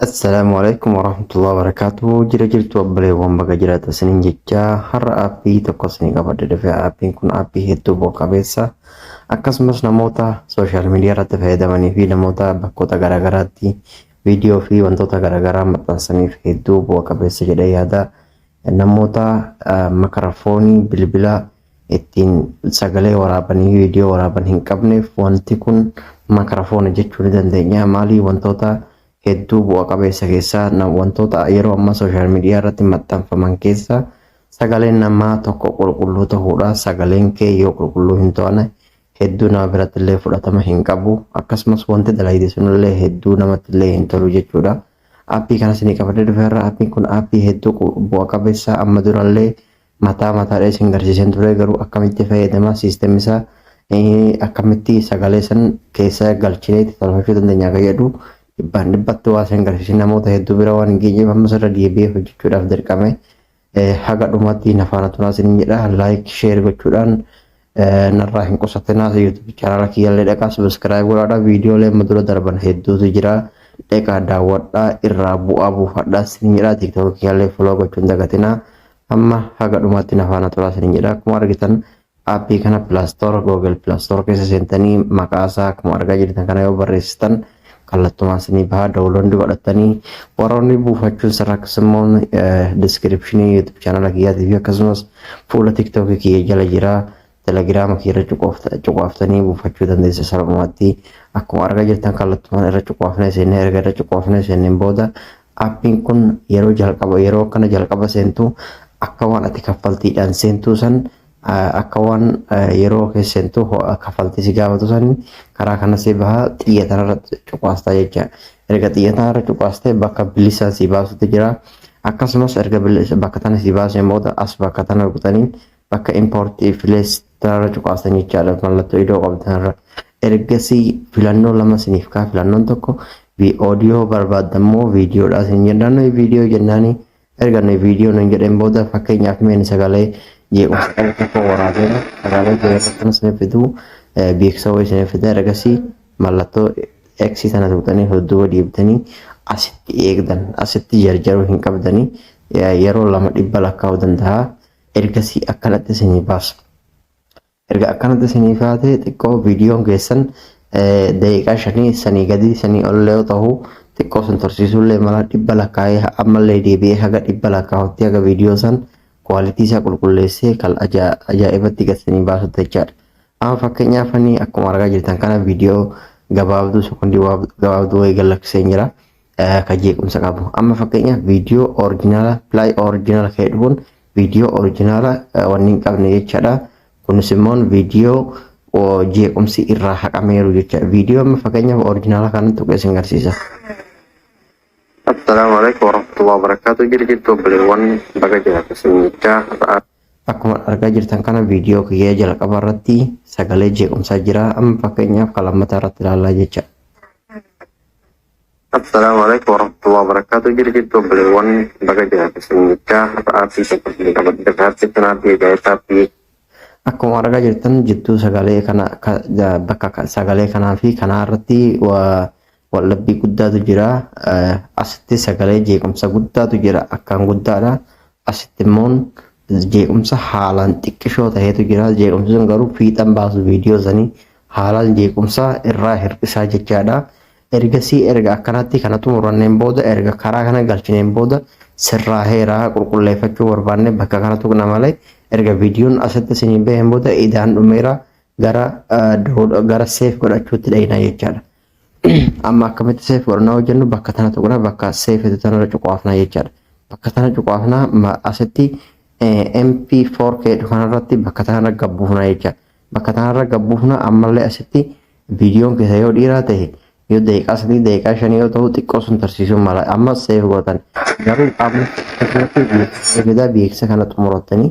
Assalaamu alaikum warahmatullahi wabarakatuh. Jira jirtu obboleewwan baga jiraata isiniin jecha har'a aappii tokko isinii qabadhe dhufe aappiin kun aappii hedduu bu'a qabeessa akkasumas namoota sooshaal miidiyaa irratti fayyadamanii fi namoota bakkoota garaagaraatti viidiyoo fi wantoota garaagaraa maxxansaniif hedduu bu'a qabeessa jedhee yaada namoota makarafoonii bilbila ittiin sagalee waraaban viidiyoo waraaban hin qabneef wanti kun makarafoona jechuu ni dandeenya. Maalii wantoota hedduu bu'a qabeessa keessaa wantoota yeroo ammaa sooshaal miidiyaa irratti maxxanfaman keessaa sagaleen namaa tokko qulqulluu ta'uudha. Sagaleen kee yoo qulqulluu hin ta'ane hedduu nama biratti illee fudhatama hin qabu. Akkasumas wanti dalagde sunillee hedduu namatti illee hin tolu jechuudha. Aappii kanas ni qabadee dhufeerra. Aappiin kun aappii hedduu bu'a qabeessa amma durallee mataa mataadha isin garsiiseen ture garuu akkamitti fayyadama siistemni isaa akkamitti sagalee san keessa galchinee itti tolfachuu dandeenya akka jedhu dhibbaan dhibbatti waa isin garsiisee namoota hedduu bira waan hin geenyeef ammas irra deebi'ee hojjechuudhaaf dirqame haga dhumatti nafaana turaa isin jedha laayik sheer gochuudhaan narraa hin qusatinaa YouTube channel kiyyallee dhaqaa subscribe godhaadha viidiyoolee amma dura darban hedduutu jira dhaqaa daawwadhaa irraa bu'aa buufadhaa sin jedha TikTok kiyyallee follow gochuun dagatinaa amma haga dhumaatti na faana turaa sin jedha akkuma argitan aappii kana Play Store Google Play Store keessa seentanii maqaa isaa akkuma argaa jirtan kana yoo barreessitan kallattumaan sinii bahaa dawulondi godhattanii warroonni buufachuun sirrakkas immoo diskiripshinii yuutuub chaanala kiyyaatii fi akkasumas fuula tiktookii kiyya jala jira telegiraama kiyya irra cuqaaftanii buufachuu dandeessa salphumatti akkuma argaa jirtan kallattumaan irra cuqaafnee seennee erga irra cuqaafnee seenneen booda appiin kun yeroo jalqaba yeroo akkana jalqaba seentu akka waan ati kaffaltiidhaan seentuu san Akka waan yeroo kee seentu ho'a kafaltii si gaafatu sanii karaa kana si baha xiyya tanarra cuqaasta jecha. Erga xiyya tanarra cuqaaste bakka bilisa si baasutu jira. Akkasumas erga bakka tana si baaseen booda as bakka tana rukutanii bakka import place tanarra cuqaastan jechaadha mallattoo idoo qabdu tanarra. Ergasii filannoo lama siniif kaa filannoon tokko audio barbaaddan moo viidiyoodhaa sin jennaan viidiyoo jennaanii Erga inni viidiyoo nuun jedheen booda fakkeenyaaf meen sagalee jeequmsa qabu tokko waraabeera. Sagalee jeequmsa kana isiniif fiduu beeksisa wayii isiniif fida ergasii mallattoo X sana tuqxanii dudduuba deebitanii asitti eegdan asitti jarjaruu hin qabdanii yeroo lama dhibba lakkaa'uu danda'a ergasii akkanatti isinii baasa. Erga akkanatti isinii kaatee xiqqoo viidiyoon keessan daqiiqaa shanii sanii gadii sanii ollee yoo ta'u xiqqoo sin tursiisuullee mala dhibba lakkaa'ee ammallee deebi'ee haga dhibba lakkaa'utti haga viidiyoo san kwaalitii isaa qulqulleessee kan ajaa'ibatti gad sanii baasutti jechaadha. Amma fakkeenyaaf ani akkuma argaa jirtan kana viidiyoo gabaabduu sekondii gabaabduu wayii gad lakkiseen jira. ka jeequmsa qabu amma fakkeenyaaf viidiyoo orijinaala pilaay orijinaala ka'e dhufuun viidiyoo orijinaala wanni hin qabne jechaadha kunis immoo viidiyoo jeequmsi irraa haqameeru jecha viidiyoo amma fakkeenyaaf orijinaala kanan tuqee sin garsiisa. Assalaamu alaikum warahmatullahi wabarakatuh jirjirtu obboleewwan baga jiraatu sinnichaa har'aa. Akkuma argaa jirtan kana viidiyoo kiyyaa jalqaba irratti sagalee jeequmsaa jira amma fakkeenyaaf kan lammataa irratti ilaallaa jecha. Assalaamu alaikum warahmatullahi wabarakatuh jiri jirtu obboleewwan baga jiraate sumichaa hafa aartii tokko hin qabadde aartii kanaatti eegaayisaatti Akkuma argaa jirtan jidduu sagalee kana ka- ja- bakka ka- sagalee kanaa fi kanaa irratti wa- waldhabbii guddaatu jira. Eh, Asitti sagalee jeequmsa guddaatu jira akkaan guddaadha. Asitti immoo jeequmsa haalaan xiqqishoo ta'etu jira. Jeequmsi sun garuu fiixan baasu viidiyoo sanii haalaan jeequmsa irraa hir'isaa jechaadha. Ergasii erga akkanatti kana xumuranneen booda erga karaa kana galchineen booda sirraaheera qulqulleeffachuu barbaanne bakka kana tuqna malee erga viidiyoon asitti isinii baheen booda idaan dhumeera gara gara seef godhachuutti dhayina jechaadha. Amma akkamitti seef godhannaa hojjennu bakka tana tuqna bakka seef itti tanarra cuqaafna jechaadha. Bakka tana cuqaafna asitti MP4K kanarratti bakka tanarra gabbuufna jechaadha. Bakka tanarra gad buufna ammallee asitti viidiyoon keessa yoo dhiiraa ta'e yoo daqiiqaa sadii daqiiqaa shanii yoo ta'u xiqqoo sun tarsiisuun mala amma seef gootan garuu qaamni keessatti beeksisa fidaa beeksisa kana xumurattanii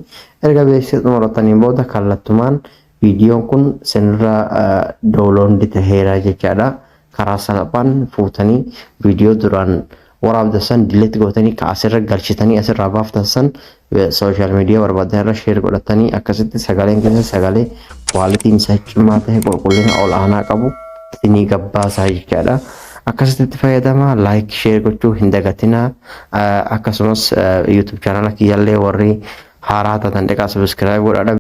erga beeksisa xumurattaniin booda kallattumaan viidiyoon kun sinirraa doolondi taheera jechaadha. karaa salphaan fuutanii viidiyoo duraan waraabdan san dileet gootanii ka asirra galchitanii asirraa baaftan san sooshaal miidiyaa barbaadan irra sheer godhatanii akkasitti sagaleen keessa sagalee kwaalitiin isaa cimaa ta'e qulqullina ol aanaa qabu isinii gabbaasaa jechaadha. Akkasitti itti fayyadamaa laayik sheer gochuu hin dagatinaa akkasumas yuutuub chaanala kiyyallee warri haaraa taatan dhiqaa sabiskiraayib godhaa.